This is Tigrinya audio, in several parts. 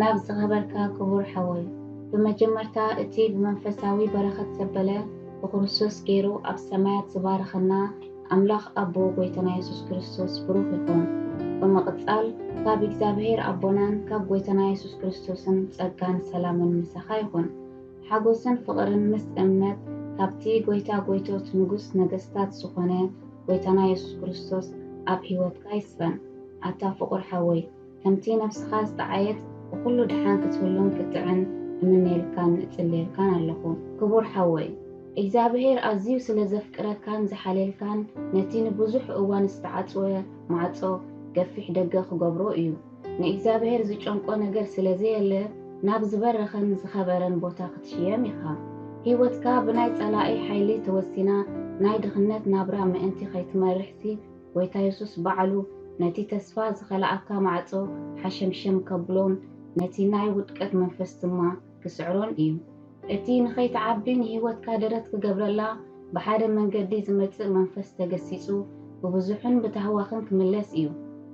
ናብ ዝተኸበርካ ክቡር ሓወይ ብመጀመርታ እቲ ብመንፈሳዊ በረኸት ዘበለ ብክርስቶስ ገይሩ ኣብ ሰማያት ዝባረኸና ኣምላኽ ኣቦ ጎይታና የሱስ ክርስቶስ ብሩኽ ይኹን። ብምቕጻል ካብ እግዚኣብሔር ኣቦናን ካብ ጎይታና የሱስ ክርስቶስን ጸጋን ሰላምን ምሳኻ ይኹን። ሓጎስን ፍቕርን ምስ እምነት ካብቲ ጎይታ ጎይቶት ንጉስ ነገስታት ዝኾነ ጎይታና የሱስ ክርስቶስ ኣብ ሕይወትካ ይስፈን። ኣታ ፍቑር ሓወይ ከምቲ ነብስኻ ዝጠዓየት ብኹሉ ደሓን ክትህሉን ክትጥዕን እምነየልካን እጽልየልካን ኣለኹ። ክቡር ሓወይ እግዚኣብሄር ኣዝዩ ስለ ዘፍቅረካን ዝሓልየልካን ነቲ ንብዙሕ እዋን ዝተዓጽወ ማዕጾ ገፊሕ ደገ ክገብሮ እዩ። ንእግዚኣብሄር ዝጨንቆ ነገር ስለ ዘየለ ናብ ዝበረኸን ዝኸበረን ቦታ ክትሽየም ኢኻ። ህይወትካ ብናይ ጸላኢ ሓይሊ ተወሲና ናይ ድኽነት ናብራ ምእንቲ ከይትመርሕሲ፣ ጐይታ የሱስ ባዕሉ ነቲ ተስፋ ዝኸልኣካ ማዕጾ ሓሸምሸም ከብሎን ነቲ ናይ ውድቀት መንፈስ ድማ ክስዕሮን እዩ። እቲ ንኸይትዓቢ ንህይወትካ ደረት ክገብረላ ብሓደ መንገዲ ዝመጽእ መንፈስ ተገሲጹ ብብዙሕን ብታህዋኽን ክምለስ እዩ።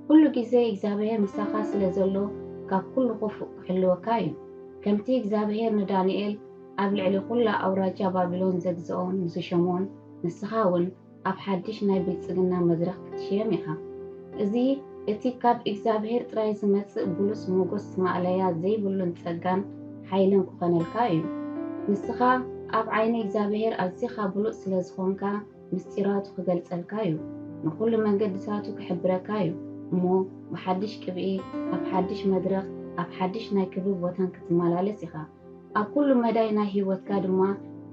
ኩሉ ግዜ እግዚኣብሄር ምሳኻ ስለ ዘሎ ካብ ኩሉ ክፉእ ክሕልወካ እዩ። ከምቲ እግዚኣብሄር ንዳንኤል ኣብ ልዕሊ ኩላ ኣውራጃ ባቢሎን ዘግዝኦን ዝሸሞን ንስኻ እውን ኣብ ሓድሽ ናይ ብልጽግና መድረኽ ክትሽየም ኢኻ። እዚ እቲ ካብ እግዚኣብሔር ጥራይ ዝመጽእ ብሉጽ ሞጎስ ማእለያ ዘይብሉን ጸጋን ሓይልን ክኾነልካ እዩ። ንስኻ ኣብ ዓይኒ እግዚኣብሔር ኣዚኻ ብሉጽ ስለ ዝኾንካ ምስጢራቱ ክገልጸልካ እዩ። ንኹሉ መንገድታቱ ክሕብረካ እዩ እሞ ብሓድሽ ቅብኢ ኣብ ሓድሽ መድረኽ ኣብ ሓድሽ ናይ ክብሪ ቦታን ክትመላለስ ኢኻ። ኣብ ኩሉ መዳይ ናይ ሕይወትካ ድማ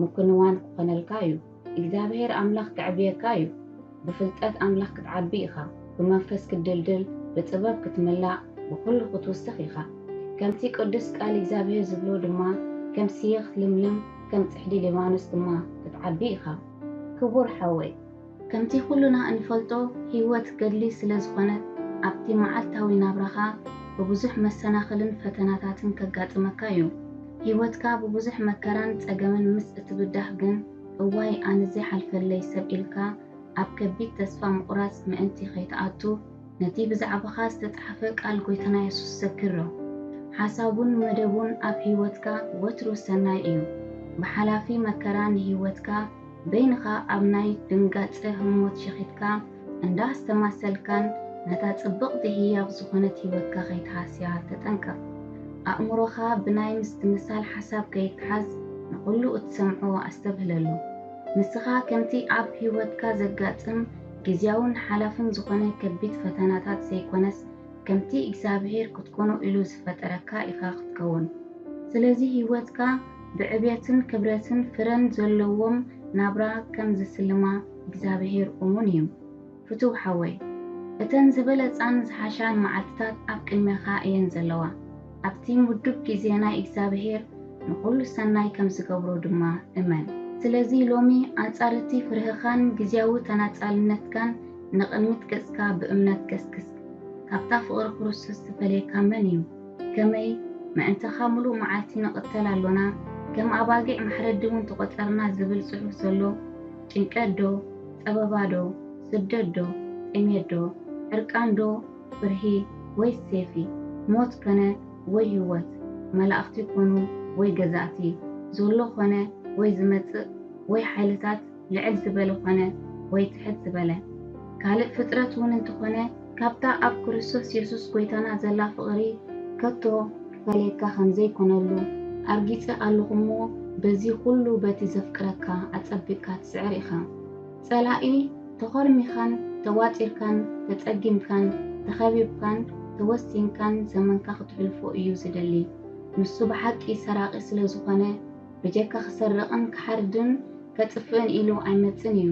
ምኩንዋን ክኾነልካ እዩ። እግዚኣብሄር ኣምላኽ ከዕብየካ እዩ። ብፍልጠት ኣምላኽ ክትዓቢ ኢኻ፣ ብመንፈስ ክትድልድል፣ ብጥበብ ክትምላእ፣ ብኹሉ ክትውስኽ ኢኻ። ከምቲ ቅዱስ ቃል እግዚኣብሄር ዝብሎ ድማ ከም ስየ ክትልምልም፣ ከም ጽሕዲ ሊባኖስ ድማ ክትዓቢ ኢኻ። ክቡር ሓወይ፣ ከምቲ ኩሉና እንፈልጦ ህይወት ገድሊ ስለ ዝኾነት፣ ኣብቲ መዓልታዊ ናብራኻ ብብዙሕ መሰናኽልን ፈተናታትን ከጋጥመካ እዩ። ሂወትካ ብቡዙሕ መከራን ጸገምን ምስ እትብዳህ ግን እዋይ ኣነዚ ሓልፈለይ ሰብ ኢልካ ኣብ ከቢድ ተስፋ ምቁራጽ ምእንቲ ከይትኣቱ ነቲ ብዛዕባኻ ዝተጻሕፈ ቃል ጎይታና የሱስ ዘክሮ። ሓሳቡን መደቡን ኣብ ሂወትካ ወትሩ ሰናይ እዩ። ብሓላፊ መከራ ንሂወትካ። በይንኻ ኣብ ናይ ድንጋጸ ህሞት ሸኺትካ እንዳ ኣስተማሰልካን ነታ ጽብቕቲ ህያብ ዝኾነት ህይወትካ ከይትሃስያ ተጠንቀቕ። ኣእምሮኻ ብናይ ምስትምሳል ሓሳብ ከይተሓዝ ንኹሉ እትሰምዖ ኣስተብህለሉ። ንስኻ ከምቲ ኣብ ህይወትካ ዘጋጥም ግዝያውን ሓላፍን ዝኾነ ከቢድ ፈተናታት ዘይኮነስ ከምቲ እግዚኣብሄር ክትኮኖ ኢሉ ዝፈጠረካ ኢኻ ክትከውን። ስለዚ ህይወትካ ብዕብየትን ክብረትን ፍረን ዘለዎም ናብራ ከም ዝስልማ እግዚኣብሄር እሙን እዩ። ፍቱው ሓወይ፣ እተን ዝበለጻን ዝሓሻን መዓልትታት ኣብ ቅድሜኻ እየን ዘለዋ። ኣብቲ ምዱብ ግዜ ናይ እግዚኣብሄር ንኹሉ ሰናይ ከም ዝገብሮ ድማ እመን። ስለዚ ሎሚ ኣንጻር እቲ ፍርህኻን ግዝያዊ ተናጻልነትካን ንቕድሚት ገጽካ ብእምነት ገስግስ። ካብታ ፍቕሪ ክርስቶስ ዝፈልየካ መን እዩ? ከመይ ምእንታኻ ምሉእ መዓልቲ ንቕተል ኣሎና፣ ከም ኣባጊዕ ማሕረዲውን ተቖጸርና ዝብል ጽሑፍ ዘሎ ጭንቀትዶ ጸበባዶ ስደትዶ ጥሜትዶ ዕርቃንዶ ፍርሂ ወይስ ሴፊ ሞት ከነ ወይ ህይወት መላእኽቲ ኮኑ ወይ ገዛእቲ ዞሎ ኮነ ወይ ዝመጽእ ወይ ሓይልታት ልዕል ዝበለ ዀነ ወይ ትሕት ዝበለ ካልእ ፍጥረት እውን እንተዀነ፣ ካብታ ኣብ ክርስቶስ የሱስ ጐይታና ዘላ ፍቕሪ ከቶ ኪፈልየካ ኸም ዘይኰነሉ ኣርጊጸ ኣሎኹ እሞ፣ በዚ ዅሉ በቲ ዘፍቅረካ ኣጸቢቕካ ትስዕር ኢኻ። ጸላኢ ተዀርሚኻን ተዋጢርካን ተጸጊምካን ተኸቢብካን ተወሲንካን ዘመንካ ኽትሕልፎ እዩ ዚደሊ። ንሱ ብሓቂ ሰራቒ ስለ ዝዀነ፣ ብጀካ ኺሰርቕን ኪሓርድን፣ ከጥፍእን ኢሉ ኣይመጽን እዩ።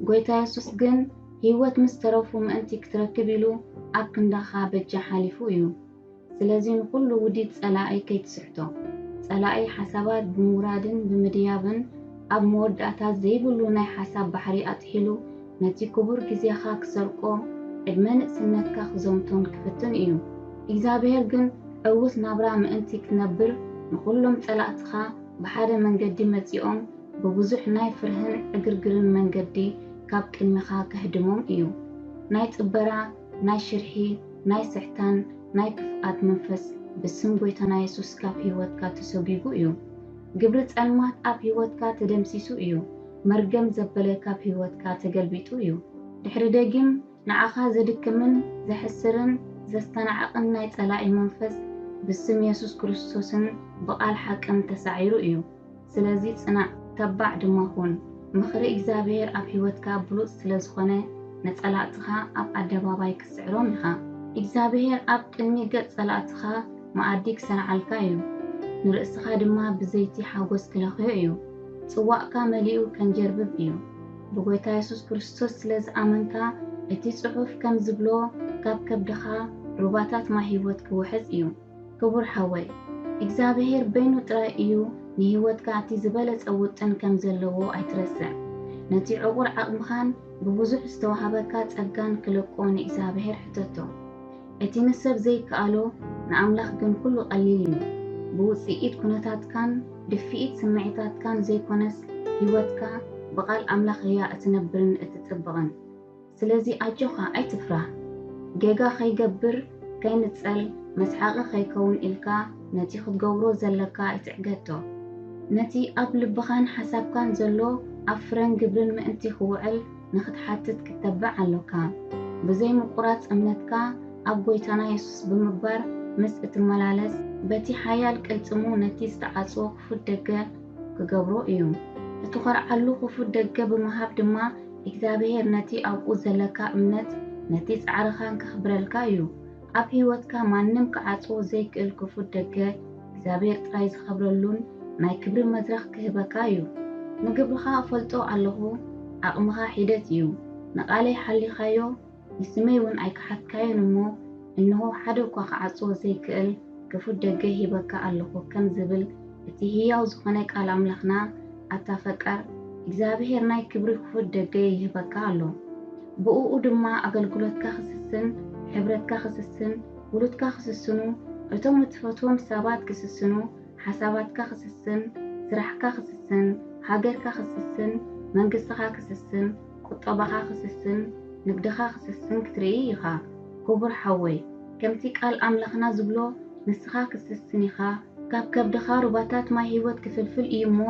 ጎይታ የሱስ ግን ህይወት ምስ ተረፉ ምእንቲ ክትረክብ ኢሉ ኣብ ክንዳኻ በጃ ሓሊፉ እዩ። ስለዚ ንኹሉ ውዲት ጸላኢ ከይትስሕቶ። ጸላኢ ሓሳባት ብምውራድን ብምድያብን ኣብ መወዳእታ ዘይብሉ ናይ ሓሳብ ባሕሪ ኣጥሒሉ ነቲ ክቡር ግዜኻ ክሰርቆ ዕድመ ንእስነትካ ክዘምቶን ክፍትን እዩ። እግዚኣብሄር ግን ዕውት ናብራ ምእንቲ ክትነብር ንኹሎም ጸላእትኻ ብሓደ መንገዲ መጺኦም ብብዙሕ ናይ ፍርህን ዕግርግርን መንገዲ ካብ ቅድሚኻ ከህድሞም እዩ። ናይ ጽበራ፣ ናይ ሽርሒ፣ ናይ ስሕታን ናይ ክፍኣት መንፈስ ብስም ጎይታና የሱስ ካብ ህይወትካ ተሶጊጉ እዩ። ግብሪ ጸልማት ኣብ ህይወትካ ተደምሲሱ እዩ። መርገም ዘበለ ካብ ህይወትካ ተገልቢጡ እዩ። ድሕሪ ደጊም ንዓኻ ዘድክምን ዘሕስርን ዘስተናዕቕን ናይ ጸላኢ መንፈስ ብስም የሱስ ክርስቶስን ብቓል ሓቅን ተሳዒሩ እዩ። ስለዚ ጽናዕ ተባዕ ድማ ኩን። ምኽሪ እግዚኣብሄር ኣብ ህይወትካ ብሉጽ ስለ ዝኾነ ንጸላእትኻ ኣብ ኣደባባይ ክትስዕሮም ኢኻ። እግዚኣብሄር ኣብ ቅድሚ ገጽ ጸላእትኻ መኣዲ ክሰንዓልካ እዩ። ንርእስኻ ድማ ብዘይቲ ሓጎስ ክለኽዮ እዩ። ጽዋእካ መሊኡ ከንጀርብብ እዩ። ብጐይታ የሱስ ክርስቶስ ስለ ዝኣመንካ፣ እቲ ጽሑፍ ከም ዝብሎ ካብ ከብድኻ ሩባታት ማይ ህይወት ክውሕዝ እዩ። ክቡር ሓወይ፣ እግዚኣብሄር በይኑ ጥራይ እዩ ንህይወትካ እቲ ዝበለጸ ውጥን ከም ዘለዎ ኣይትረስዕ። ነቲ ዕቑር ዓቕምኻን ብብዙሕ ዝተዋህበካ ጸጋን ክለቆ ንእግዚኣብሄር ሕተቶ። እቲ ንሰብ ዘይከኣሎ ንኣምላኽ ግን ኩሉ ቀሊል እዩ። ብውጽኢት ኩነታትካን ድፍኢት ስምዒታትካን ዘይኮነስ ህይወትካ ብቃል ኣምላኽ እያ እትነብርን እትጽብቕን። ስለዚ ኣጆኻ ኣይትፍራህ። ጌጋ ከይገብር ከይንጸል መስሓቒ ከይከውን ኢልካ ነቲ ክትገብሮ ዘለካ ኣይትዕገቶ። ነቲ ኣብ ልብኻን ሓሳብካን ዘሎ ኣብ ፍረን ግብርን ምእንቲ ክውዕል፣ ንኽትሓትት ክተብዕ ኣሎካ። ብዘይ ምቁራጽ እምነትካ ኣብ ጎይታና የሱስ ብምግባር ምስ እትመላለስ፣ በቲ ሓያል ቅልጽሙ ነቲ ዝተዓጽወ ክፉት ደገ ክገብሮ እዩ። እትኾርዓሉ ክፉት ደገ ብምሃብ ድማ እግዚኣብሄር ነቲ ኣብኡ ዘለካ እምነት ነቲ ጻዕርኻን ከኽብረልካ እዩ። ኣብ ህይወትካ ማንም ክዓጽዎ ዘይክእል ክፉት ደገ፣ እግዚኣብሔር ጥራይ ዝኸብረሉን ናይ ክብሪ መድረኽ ክህበካ እዩ። ንግብርኻ እፈልጦ ኣለኹ ዓቕምኻ ሒደት እዩ። ንቓለይ ሓሊኻዮ ንስመይ እውን ኣይከሓድካዮን እሞ እንሆ ሓደ እኳ ክዓጽዎ ዘይክእል ክፉት ደገ ሂበካ ኣለኹ ከም ዝብል እቲ ህያው ዝኾነ ቃል ኣምላኽና ኣታ ፈቃር እግዚኣብሔር ናይ ክብሪ ክፉት ደገ ይህበካ ኣሎ። ብእኡ ድማ ኣገልግሎትካ ክስስን ሕብረትካ ክስስን ውሉድካ ክስስኑ፣ እቶም እትፈትዎም ሰባት ክስስኑ፣ ሓሳባትካ ክስስን፣ ስራሕካ ክስስን፣ ሃገርካ ክስስን፣ መንግስትኻ ክስስን፣ ቁጠባኻ ክስስን፣ ንግድኻ ክስስን ክትርኢ ኢኻ። ክቡር ሓወይ፣ ከምቲ ቃል ኣምላኽና ዝብሎ ንስኻ ክትስስን ኢኻ፣ ካብ ከብድኻ ሩባታት ማይ ህይወት ክፍልፍል እዩ እሞ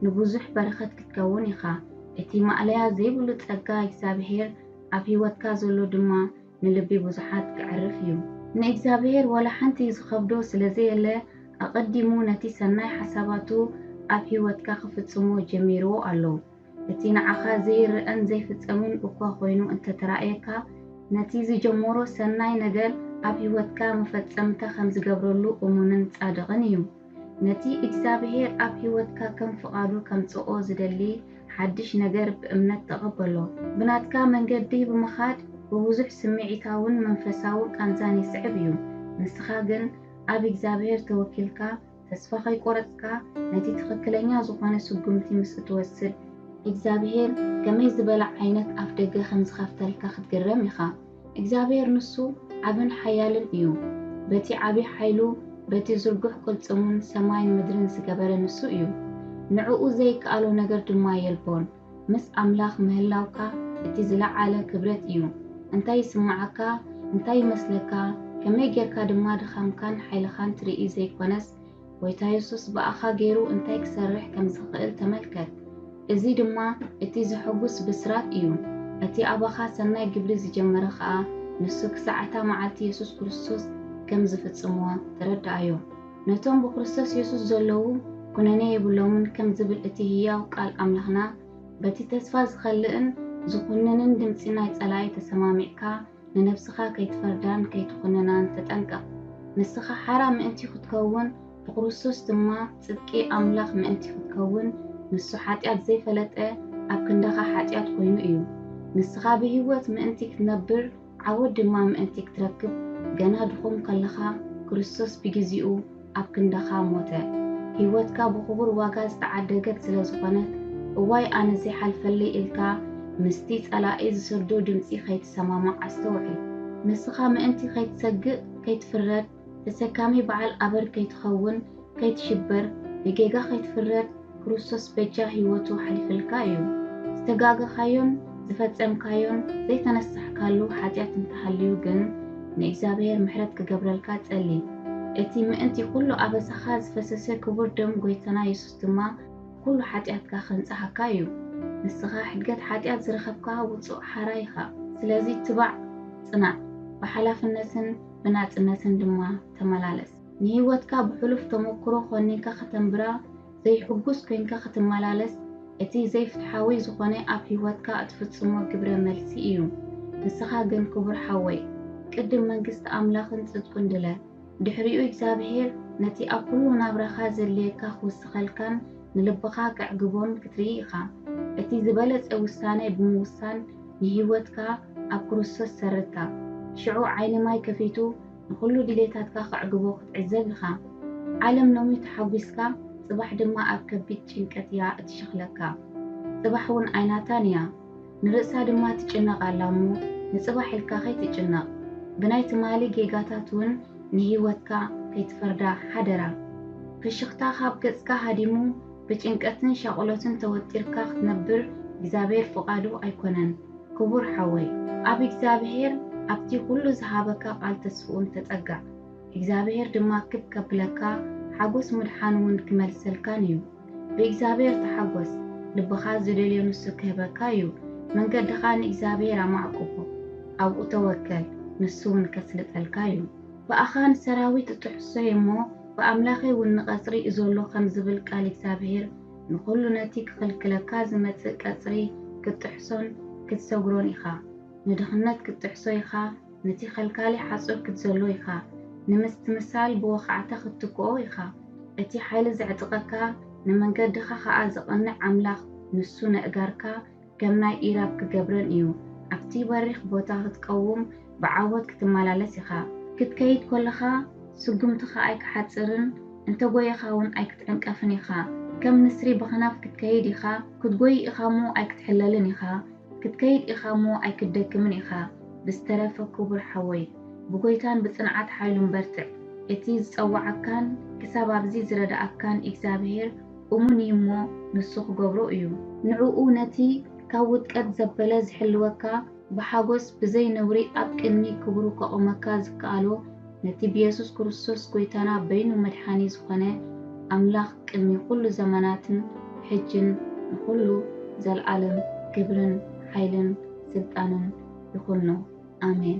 ንብዙሕ በረኸት ክትከውን ኢኻ። እቲ ማእለያ ዘይብሉ ጸጋ እግዚኣብሄር ኣብ ህይወትካ ዘሎ ድማ፣ ንልቢ ብዙሓት ከዕርፍ እዩ። ንእግዚኣብሄር ዋላ ሓንቲ ዝኸብዶ ስለ ዘየለ ኣቐዲሙ ነቲ ሰናይ ሓሳባቱ ኣብ ህይወትካ ክፍጽሞ ጀሚርዎ ኣሎ። እቲ ንዓኻ ዘይርኣን ዘይፍጸምን እኳ ኮይኑ እንተ ተራእየካ፣ ነቲ ዝጀመሮ ሰናይ ነገር ኣብ ህይወትካ መፈጸምታ ከም ዝገብረሉ እሙንን ጻድቕን እዩ። ነቲ እግዚኣብሄር ኣብ ህይወትካ ከም ፍቓዱ ከምጽኦ ዝደሊ ሓድሽ ነገር ብእምነት ተቐበሎ። ብናትካ መንገዲ ብምኻድ ብብዙሕ ስምዒታውን መንፈሳውን ቃንዛን ይስዕብ እዩ። ንስኻ ግን ኣብ እግዚኣብሄር ተወኪልካ ተስፋ ከይቆረጽካ ነቲ ትኽክለኛ ዝኾነ ስጉምቲ ምስ እትወስድ፣ እግዚኣብሄር ከመይ ዝበለ ዓይነት ኣፍደገ ከም ዝኸፍተልካ ክትግረም ኢኻ። እግዚኣብሄር ንሱ ዓብን ሓያልን እዩ፣ በቲ ዓቢ ሓይሉ፣ በቲ ዝርጉሕ ቅልጽሙን ሰማይን ምድርን ዝገበረ ንሱ እዩ፣ ንዕኡ ዘይከኣሎ ነገር ድማ የልቦን። ምስ ኣምላኽ ምህላውካ እቲ ዝለዓለ ክብረት እዩ። እንታይ ይስምዓካ፣ እንታይ ይመስለካ፣ ከመይ ጌርካ ድማ ድኻምካን ሓይልኻን ትርኢ ዘይኮነስ፣ ጐይታ የሱስ ብኣኻ ገይሩ እንታይ ክሰርሕ ከም ዝኽእል ተመልከት፣ እዚ ድማ እቲ ዘሐጕስ ብስራት እዩ። እቲ ኣባኻ ሰናይ ግብሪ ዝጀመረ ኸኣ ንሱ ክሳዕ እታ መዓልቲ የሱስ ክርስቶስ ከም ዝፍጽሞ ተረድኣዮ። ነቶም ብክርስቶስ የሱስ ዘለዉ ኵነኔ የብሎምን ከም ዝብል እቲ ህያው ቃል ኣምላኽና፣ በቲ ተስፋ ዝኸልእን ዝዅንንን ድምጺ ናይ ጸላኢ ተሰማሚዕካ፣ ንነብስኻ ከይትፈርዳን ከይትኹንናን ተጠንቀቕ። ንስኻ ሓራ ምእንቲ ኽትከውን፣ ብክርስቶስ ድማ ጽድቂ ኣምላኽ ምእንቲ ኽትከውን፣ ንሱ ሓጢኣት ዘይፈለጠ ኣብ ክንዳኻ ሓጢኣት ኮይኑ እዩ። ንስኻ ብህይወት ምእንቲ ክትነብር ዓወት ድማ ምእንቲ ክትረክብ ገና ድኹም ከለኻ ክርስቶስ ብጊዚኡ ኣብ ክንዳኻ ሞተ። ህይወትካ ብኽቡር ዋጋ ዝተዓደገት ስለ ዝኾነት፣ እዋይ ኣነ ዘይሓልፈለይ ኢልካ ምስቲ ጸላኢ ዝሰዶ ድምጺ ከይትሰማማዕ ኣስተውዕል። ንስኻ ምእንቲ ከይትሰግእ፣ ከይትፍረድ፣ ተሰካሚ በዓል ኣበር ከይትኸውን፣ ከይትሽበር፣ ብጌጋ ከይትፍረድ፣ ክርስቶስ በጃ ሕይወቱ ሓሊፈልካ እዩ። ዝተጋገኻዮን ዝፈጸምካዮን ዘይተነሳሕካሉ ሓጢኣት እንተሃልዩ ግን ንእግዚኣብሔር ምሕረት ክገብረልካ ጸሊ። እቲ ምእንቲ ኩሉ ኣበሳኻ ዝፈሰሰ ክቡር ደም ጐይታና የሱስ ድማ ኩሉ ሓጢኣትካ ከንጽሃካ እዩ። ንስኻ ሕድገት ሓጢኣት ዝረኸብካ ውጹእ ሓራይ ኢኻ። ስለዚ ትባዕ ጽናዕ፣ ብሓላፍነትን ብናጽነትን ድማ ተመላለስ። ንህይወትካ ብሕሉፍ ተመኩሮ ኮኒንካ ከተንብራ ዘይሕጉስ ኮይንካ ክትመላለስ እቲ ዘይፍትሓዊ ዝኾነ ኣብ ህይወትካ እትፍጽሞ ግብረ መልሲ እዩ። ንስኻ ግን ክቡር ሓወይ ቅድም መንግስቲ ኣምላኽን ጽድቁን ድለ ድሕሪኡ እግዚኣብሄር ነቲ ኣብ ኩሉ ናብራኻ ዘድልየካ ክውስኸልካን ንልብኻ ከዕግቦን ክትርኢ ኢኻ። እቲ ዝበለጸ ውሳነ ብምውሳን ንህይወትካ ኣብ ክርስቶስ ሰርታ። ሽዑ ዓይኒ ማይ ከፊቱ ንኹሉ ድሌታትካ ከዕግቦ ክትዕዘብ ኢኻ። ዓለም ሎሚ ተሓጒስካ ጽባሕ ድማ ኣብ ከቢድ ጭንቀት እያ እትሸኽለካ። ጽባሕ እውን ኣይናታን እያ። ንርእሳ ድማ ትጭነቕ ኣላ እሞ ንጽባሕ ኢልካ ከይትጭነቕ። ብናይ ትማሊ ጌጋታት እውን ንህይወትካ ከይትፈርዳ ሓደራ። ፍሽኽታ ካብ ገጽካ ሃዲሙ ብጭንቀትን ሻቁሎትን ተወጢርካ ክትነብር እግዚኣብሔር ፍቃዱ ኣይኮነን ክቡር ሓወይ ኣብ እግዚኣብሔር ኣብቲ ኩሉ ዝሃበካ ቃል ተስፍኡን ተጸጋዕ እግዚኣብሔር ድማ ክብ ከብለካ ሓጎስ ምድሓን ውን ክመልሰልካን እዩ ብእግዚኣብሔር ተሓጎስ ልብካ ዝደልዮ ንሱ ክህበካ እዩ መንገድካ ንእግዚኣብሔር ኣማዕቁቦ ኣብኡ ተወከል ንሱ ውን ከስልጠልካ እዩ ብኣኻን ሰራዊት እጥሕሶ እየ እሞ ብኣምላኸይ ውን ንቐጽሪ እዞሎ ከም ዝብል ቃል እግዚኣብሄር ንኹሉ ነቲ ክኽልክለካ ዝመጽእ ቀጽሪ ክትጥሕሶን ክትሰግሮን ኢኻ። ንድኽነት ክትጥሕሶ ኢኻ፣ ነቲ ከልካሊ ሓጹር ክትዘሎ ኢኻ፣ ንምስትምሳል ብወኻዕታ ክትትክኦ ኢኻ። እቲ ሓይሊ ዘዕጥቐካ፣ ንመንገድኻ ኸኣ ዘቕንዕ ኣምላኽ ንሱ ነእጋርካ ከም ናይ ኢራብ ክገብረን እዩ። ኣብቲ በሪኽ ቦታ ክትቀውም ብዓወት ክትመላለስ ኢኻ። ክትከይድ ኮለኻ ስጉምትኻ ኣይክሓጽርን፣ እንተ ጎየኻ ውን ኣይክትዕንቀፍን ኢኻ። ከም ንስሪ ብኽናፍ ክትከይድ ኢኻ፣ ክትጎይ ኢኻ'ሞ ኣይክትሕለልን ኢኻ፣ ክትከይድ ኢኻ'ሞ ኣይክትደክምን ኢኻ። ብዝተረፈ ክቡር ሓወይ፣ ብጎይታን ብጽንዓት ሓይሉን በርትዕ። እቲ ዝጸወዓካን ክሳብ ኣብዚ ዝረደኣካን ኢግዛብሄር፣ እሙን እዩ እሞ ንሱ ክገብሮ እዩ። ንዕኡ ነቲ ካብ ውድቀት ዘበለ ዝሕልወካ ብሓጎስ ብዘይ ነውሪ ኣብ ቅድሚ ክብሩ ከቑመካ ዝከኣሎ ነቲ ብየሱስ ክርስቶስ ጎይታና በይኑ መድሓኒ ዝኾነ ኣምላኽ ቅድሚ ኩሉ ዘመናትን ሕጅን ንኹሉ ዘልኣለም ክብርን ሓይልን ስልጣንን ይኹኖ ኣሜን።